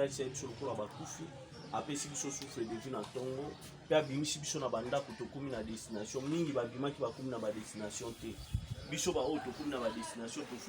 asalisa ye biso lokola bakufi apesi biso souffle de vie na ntongo mpe abimisi biso na bandako tokómi na destination mingi babimaki bakómi na badestination te biso baoyo tokómi na badestination tofu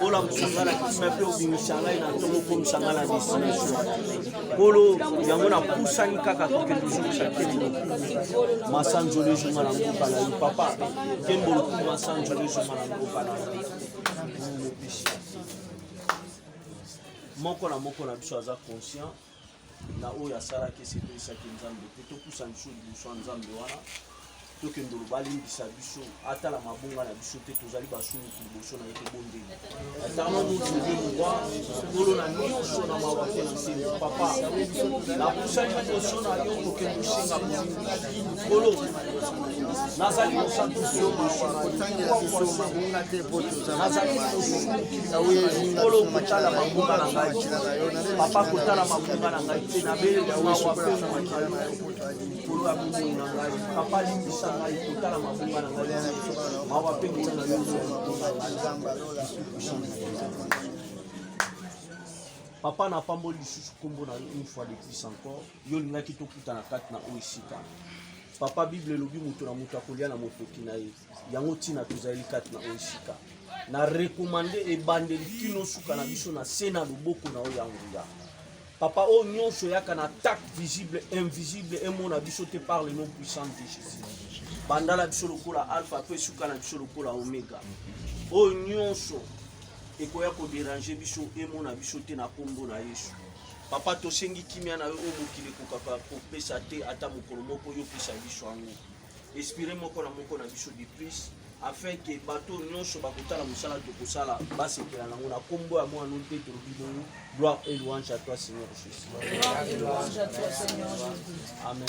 Bola mosanga na kisima mpe obimisa ngai na ntongo okomisa ngai na destination kolo yango napusani kaka toke tozongisa kembo masanzolo ezonga na mboka na yo papa kembo loku masanzolo ezonga na mboka na yo mopesi moko na moko na biso aza conscient na oyo asalaki esepelisaki nzambe te topusa biso liboso ya nzambe wana tokende oloba alimbisa biso atala mabonga na biso te tozali basumuki liboso na ye tobondeli atama motuze mwa kolo na nyonso na mawa te na nse papa napusani liboso na yo kokende osenga bolingi Kolo, nazali mosantu yo nazali kolo kotala mabunga na ngai papa kotala mabunga na ngai te nabelela mawa mpe na makila na yo kolo ya bomoi na ngai papa limbisa ngai kotala mabunga na ngai mawa mpe kolo na yo papa napamboli lisusu nkombo na yo une fois de plus encore Yo olingaki tokutana kati na oyo esika. Papa, Bible elobi moto na moto akolia na motoki na ye. Yango ntina tozali kati na oyo esika. Na rekomande ebandeli kino suka na biso na se na loboko na oyo ya nguya. Papa, oyo nyonso eyaka na attaque visible, invisible, emona biso te par le nom puissant de Jésus. Banda na biso lokola alpha mpe suka na biso lokola omega. Oyo nyonso ekoya koderange biso emona biso te na nkombo na Yesu. Papa tosengi kimia na yo oyo mokili ekokaka kopesa te ata mokolo moko yo pesa biso yango espire moko na moko na biso de plus afin ke bato nyonso bakotala mosala tokosala basepela nango na nkombo ya mwana mpe tolobi bongo gloire et louange à toi seigneur jésus amen